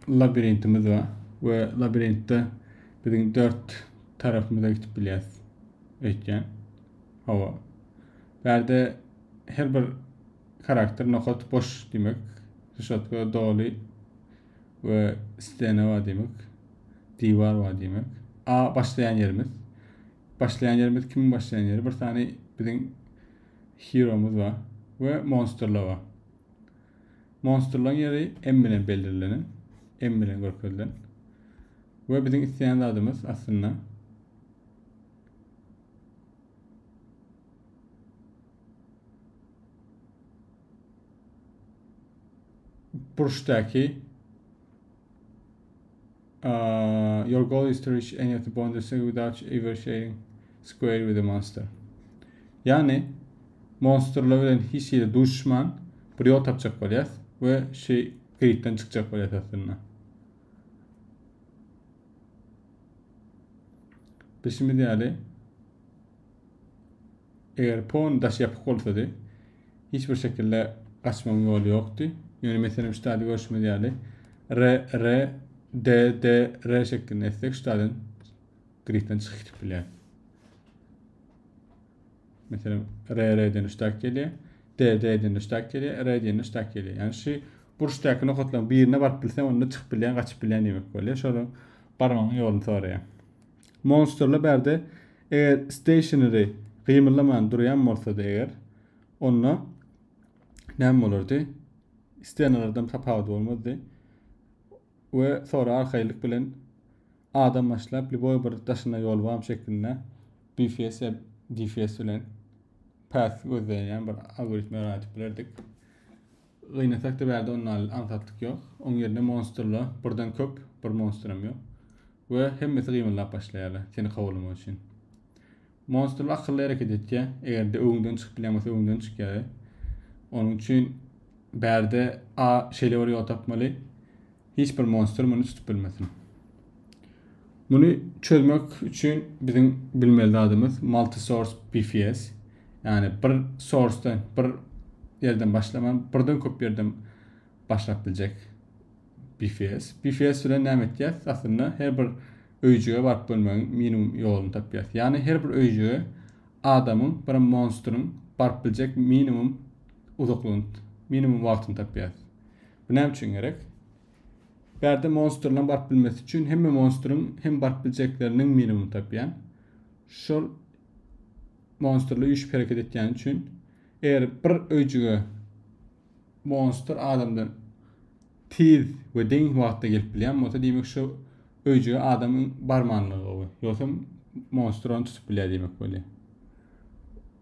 labirintimiz bar we labirintde biziň dört tarapymyza gidip bilýäs öýtýän. Hawa. Bärde her bir karakter nokat boş diýmek. Rişotka doly we stena bar diýmek. Diwar bar diýmek. A başlaýan ýerimiz. Başlaýan ýerimiz kim başlaýan ýeri? Bir sany biziň heromyz bar we monsterlar bar. Monstrlaň ýeri M bilen belrilenen, M bilen görkezilen. We biziň isleýän zadymyz aslynda burçdaky Uh, your goal is to reach any of the bonuses without ever sharing square with a monster. Yani monsterlar bilen hiç hili duşman bir yol tapacak bolýas we şey gridden çykjak bolýas aslynda. Bilşimiz ýaly Eger pon daş ýapyk bolsady, hiç bir şekilde gaçmagyň ýoly ýokdy. Ýöne meselem ştady görşümiz ýaly R, R, D, D, R şeklinde etsek ştadan gridden çykyp gidip bilýär. Meselem R, R diýen ştak gelýär. D, D diýen ştak gelýär. R diýen ştak gelýär. Ýani şu burçdaky nokatlaryň birine baryp bilsem, onda çykyp bilýän, gaçyp bilýän diýmek bolýar. Şonuň barmagyň ýoluny soraýar. Monsterly bärde eger stationary gymyldaman durýan bolsady eger onda näme bolardy? Stenalardan tapawudy bolmazdy. We sonra arkaýynlyk bilen adam başlap liboý bir daşyna ýol bam şeklinde BFS ýa DFS bilen path gözleýän bir algoritme ýaýradyp bilerdik. Gynasak-da bärde ondan alyl aňsatlyk ýok. Oň ýerine monstrla birden köp, bir monstram ýok. We hemmesi gymyldap başlaýarlar seni kowalamak üçin. Monstrla akylly hereket etýä. Eger-de öňden çykyp bilýän bolsa öňden çykýar. Onuň üçin bärde a şeýle bir ýol tapmaly. Hiç bir monstr muny tutup bilmesin. Muny çözmek üçin biziň bilmeli zadymyz multi-source BFS. Ýagny bir source-dan, bir ýerden başlaman, birden köp ýerden başlap biljek BFS. BFS bilen näme etýäs? Aslynda her bir öýjüge baryp görmegiň minimum ýoluny tapýas. Ýagny her bir öýjüge adamyň, birem monstryň baryp biljek minimum uzaklygyny, minimum wagtyny tapýas. Bu näme üçin gerek? Bärde monstrlaryň baryp bilmesi üçin hemme monstryň hem baryp biljekleriniň minimum tapýan. Şol monstrla üýşüp hereket etýän üçin eger bir öýjüge monstr adamdan tiz we deň wagtda gelip bilýän bolsa, diýmek şu öýjüge adamyň barmanlygy gowy. Ýogsam monstr ony tutup bilýär diýmek bolýar.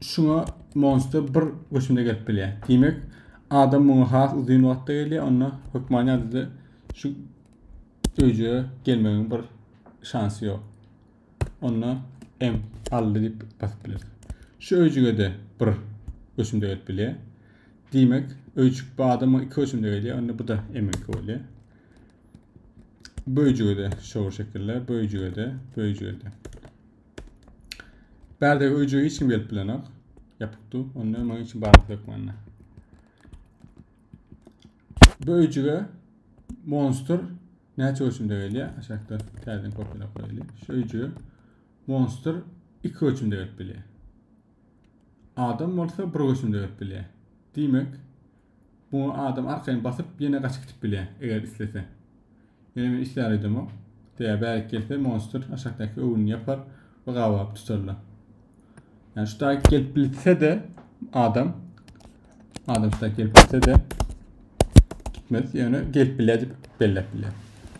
Şuňa monster bir göçümde gelip bilýär. Diýmek, adam muňa has uzyn wagtda gelýär, onda hökman ýadada şu öýjä gelmegiň bir şansy ýok. Onda M aldy diýip basyp bileris. Şu öýjüge-de bir göçümde gelip bilýär. Diýmek, öýjük bu adama iki göçümde gelýär, onda bu-da M-niňki bolýar. Bu öýjüge-de şol şekilde, bu öýjüge-de, bu öýjüge-de. Bärde öýjüge hiç kim gelip bilenok. Ýapykdy. Onda maňa hiç barlyk ýok mende. Bu öýjüge monster näçe ölçümde gelýär? Aşakda täzeden kopýalap goýaly. Şu öýjüge monster 2 ölçümde gelip bilýär. Adam bolsa bir ölçümde gelip bilýär. Diýmek, Muňa adam arkaýyn basyp ýene gaçyp gidip bilýär, eger islese. Ýöne men islär öýdemok. Däýär bärik gelse monstr aşakdaky öwünini ýapar we gabaryp tutarlar. Ýani şu daýk gelip bilse-de adam adam şu daýk gelip bilse-de gitmez. Ýöne gelip bilýär diýip belläp bilýär.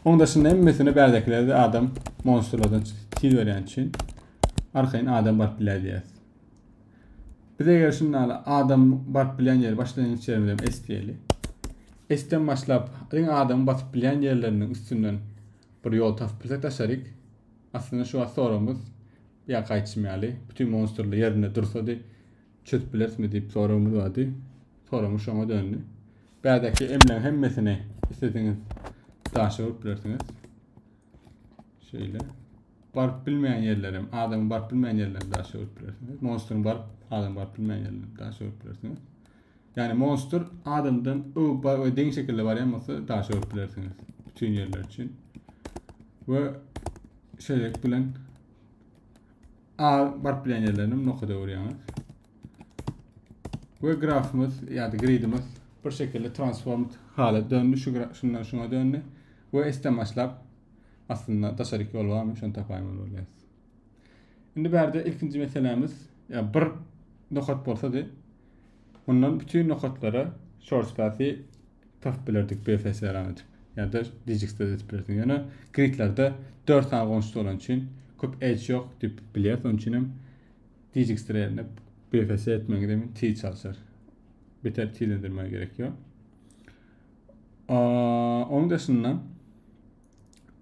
Oň daşynda hemmesine bärdekiler-de adam monstrlardan tiz berýän üçin arkaýyn adam baryp bilýär diýýär. Biz eger şunda hala adam baryp bilýän ýeri başlangyç ýerimiz hem S diýeli. S-den başlap iň adam basyp bilýän ýerleriniň üstünden bir ýol tapyp bilsek daşaryk. Aslynda şu wagt soragymyz ýa gaýçym ýaly bütün monstrlar ýerinde dursady çözüp bilerismi diýip soragymyz bardy. Soragymyz şoňa döndi. Bädäki emleň hemmesini islesiňiz daşa urup bilersiňiz. Şeýle. Baryp bilmeýän ýerlerem, adam baryp bilmeýän ýerlerine daş ýöwrüp bilersiňiz. Monstryň baryp, adam baryp bilmeýän ýerlerine daş ýöwrüp bilersiňiz. Ýani monstr adamdan öwüp we deň şekilde barýan bolsa daş ýöwrüp bilersiňiz. Bütün ýerler üçin. We şeýlelik bilen A baryp bilýän ýerlerini nokada öwürýäňiz. We grafymyz ýa-da gridimiz bir şekilde transformed hala döndü. Şu şundan şuna döndü. We esden başlap aslynda daşaryk ýol barmy şony tapaýmaly bolýas. Indi bärde ilkinji meselämiz ýa bir nokat bolsady mundan bütün nokatlara short path-i tapyp bilerdik BFS ran edip ýa-da Digix'de edip bilersiň ýöne gridlerde 4 sany goňşusy bolany üçin köp edge ýok diýip bilýäs onuň üçin hem Digix'de ýerine BFS etmegiňiz hem tiz çalyşar. Beter tizlendirmä gerek ýok. Onuň daşynda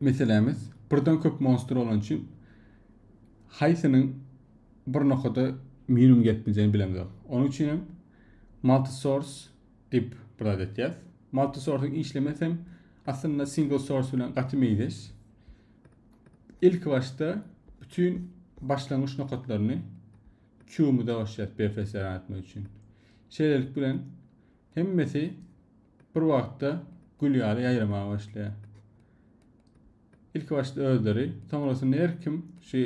meselämiz birden köp monstr bolan üçin haýsynyň bir nokada minimum gelip biljegini bilemizok. Onuň üçin hem multisource diýip bir zat etýäs. Multisource işlemesi hem aslynda single source bilen gaty meýleş. Ilk başda bütün başlangyç nokatlaryny Q-myza goşýas BFS etmek üçin. Şeýlelik bilen Hemmesi bir wagtda gül ýaly ýaýramaga başlaýar. Ilki başda özleri, soňrasynda her kim şu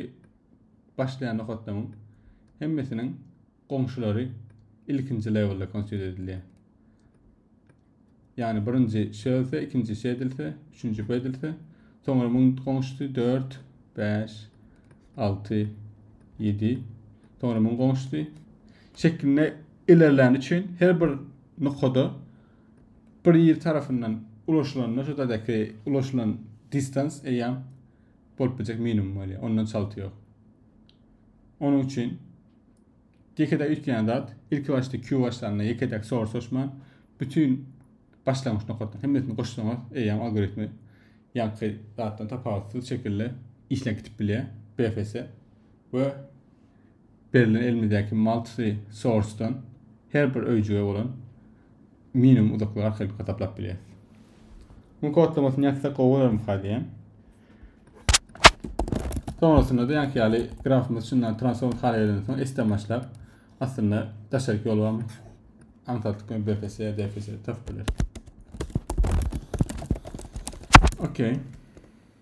başlaýan nokatlaryň hemmesiniň goňşulary ilkinji lewelde konsiýer edilýär. Ýagny birinji şöse, ikinji şedilse, üçünji bedilse, soňra muň goňşusy 4, 5, 6, 7, soňra muň goňşusy şeklinde Ilerlän üçin her bir nokada bir ýer tarapyndan ulaşylanda şu taýdaky ulaşylan distans eýýäm bolup biljek minimum bolýar. Ondan çalty ýok. Onuň üçin ýekedäk üýtgeýän zat ilki başda Q başlanda ýekedäk soru soruşman bütün başlangyç nokatdan hemmesini goşsaňyz eýýäm algoritmi ýaňky zatdan tapawutsyz şekilde işläp gidip bilýär BFS we Berlen elimizdäki multi source-dan her bir öýjüge bolan minimum uzaklygy arkaýyn hasaplap bilýäris. Muň kodlamasyny ýazsak gowy bolarmyka diýýän. Soňrasynda-da ýaňky ýaly grafymyz çyndan transform hala gelenden soň S-den başlap aslynda daşaryk ýol barmy? Aňsat ýa BFS ýa DFS tapyp bileris. Okey.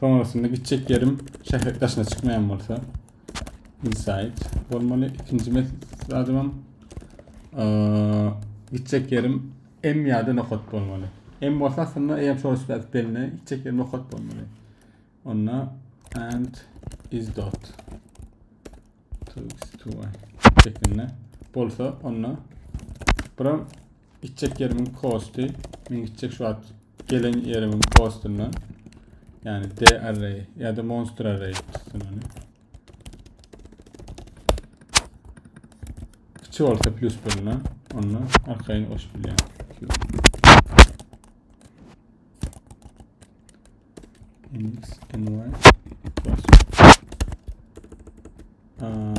Soňrasynda gitjek ýerim şäher daşyna çykmaýan bolsa inside bolmaly. Ikinji zadym gitjek ýerim M ýa-da nokat bolmaly. M bolsa aslynda eýem source path belli, gitjek ýerim nokat bolmaly. Onda and is dot to x to y şeklinde bolsa onda buram Gitjek ýerimiň posty. Men gitjek şu wagt gelen ýerimiň postundan. Yani D array ya da monster array tutsun onu. Kiçi olsa plus birine onu arkayın oş bilen. X, N, Y. Plus. Aa,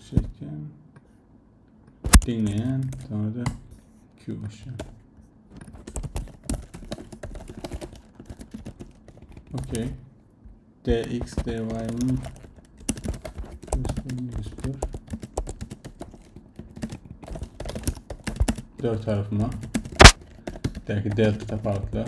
şeyken. Diňleýän, sonra da Q başlaýan. Okay. DX, DY, hmm. Dört tarafıma. Belki delta tapawutlar.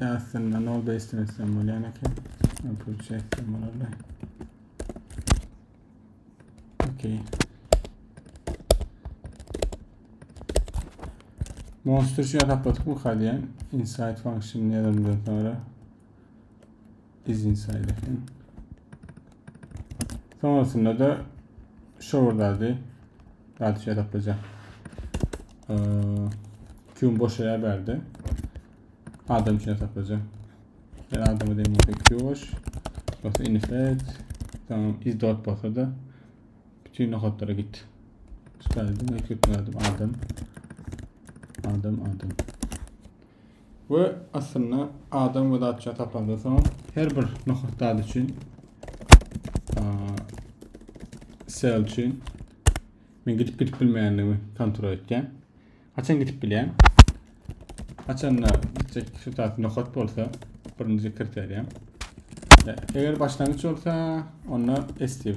Aslynda nol beýsden etsem bolýan eken. Apple çekdim bolanda. Okey. Monster şu ýa taplatdyk bu kadýan. Inside function ýazandan sonra. Biznes aýlasyň. Soňasynda da şowur zady zady şey tapyja. Ee, Q'un boşa yer berdi. Adam için tapyja. Ben adamı diyeyim olsa Q boş. Yoksa inifet. Tamam iz dot bolsa da bütün nokatlara git. Çıkardım ve köpüne adam. Adam adam. We aslynda adam we zatça tapandan soň her bir nohut dady üçin sel üçin men gidip gidip bilmeýändigimi kontrol etken. Haçan gidip bilýän? Haçanda gitjek şu tarz nohut bolsa birinji kriteriýam. Eger başlangyç bolsa onda estiv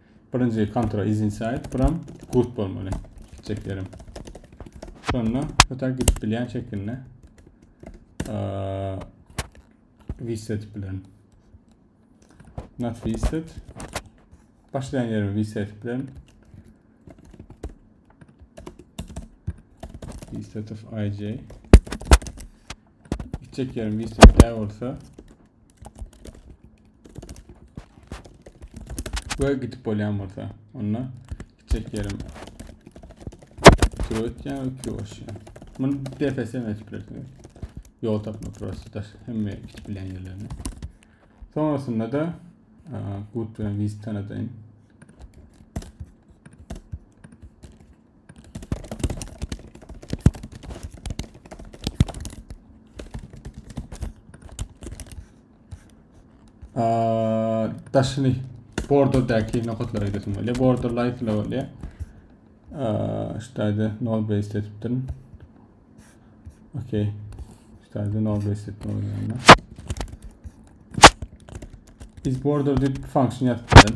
Birinji kontra is inside buram good bolmaly. İki çeklerim. Şonda öte gidip bilýän şekilde reset bilen not reset başlayan yerimi reset bilen reset of ij Gitjek ýerim gitjek dä bolsa. Göýe gidip bolýan bolsa. Onda gitjek ýerim Kiro etýän, kiro aşýan. Muny DFS etip bilersiňiz. Ýol tapma prostodyr. Hemme gidip bilen ýerlerini. Sonrasynda da gut bilen viz tanadaýyn. daşyny borderdäki nokatlara gidesim gelýär. Border light ile bolýar. Ştaýda nol base etipdim. Okey. Ştaýda nol base etdim oýnanda. Biz border dip function ýatypdym.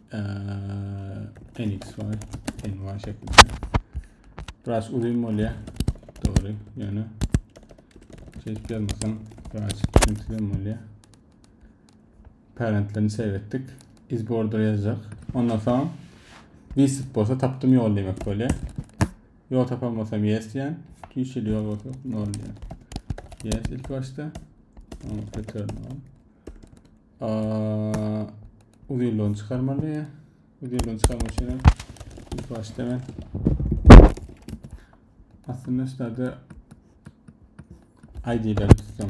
Ee, NXY, NY şeklinde. Biraz uzun bolýar. Dogry, ýöne çeşip ýazmasam biraz düşünsizem bolýar. Parentlerini seretdik. Is border ýazjak. Ondan soň Visip bolsa tapdym ýol diýmek bolýar. Ýol tapan bolsam yes diýen. Tüýşeli ýol bolsa nol diýen. Yes ilk başda. Return on. Aa, Uzynlygyny çykarmaly. Uzynlygyny çykarmak üçin hem ilk başda men aslynda şularda ID-leri tutsam.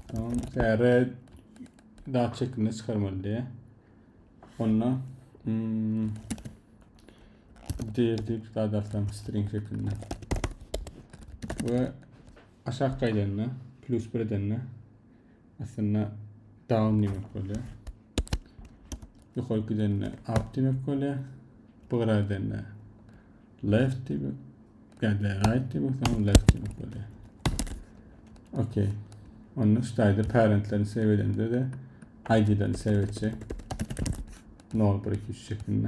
Tamam, täre dat şeklinde çykarmaly diye. Onunla hmm, dir deyip dat atsam string şeklinde. Ve aşağı kaydanda plus bir edende Aslynda down diýmek bolýar. Ýokary gidende up diýmek bolýar. Bugra gidende left diýmek, gidende right diýmek, soň left diýmek bolýar. Okey. Onda ştaýda parentlerini save edende de ID-lerini save etjek. 0 1 2 3 şeklinde.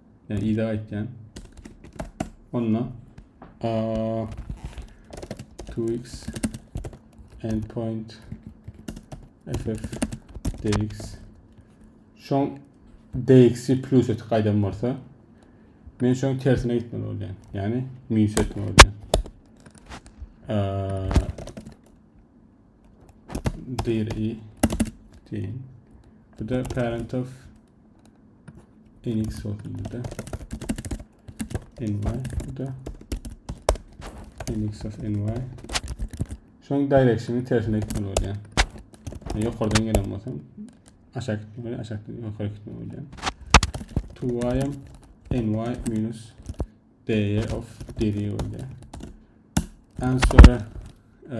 Yani iza aytyan. Onunla uh, 2x endpoint ff dx şoň dx-i plus etip gaýdan bolsa men şoň tersine gitmeli bolýan. Ýagny minus etmeli bolýan. dir i team. Bu da parent of nx olsun bir de ny bu da nx of ny şoň direksiyonu tersine gitmeli bolýar ýokardan gelen bolsa aşak gitmeli aşak ýokary gitmeli bolýar 2y ny minus dy of dy bolýar and sonra e,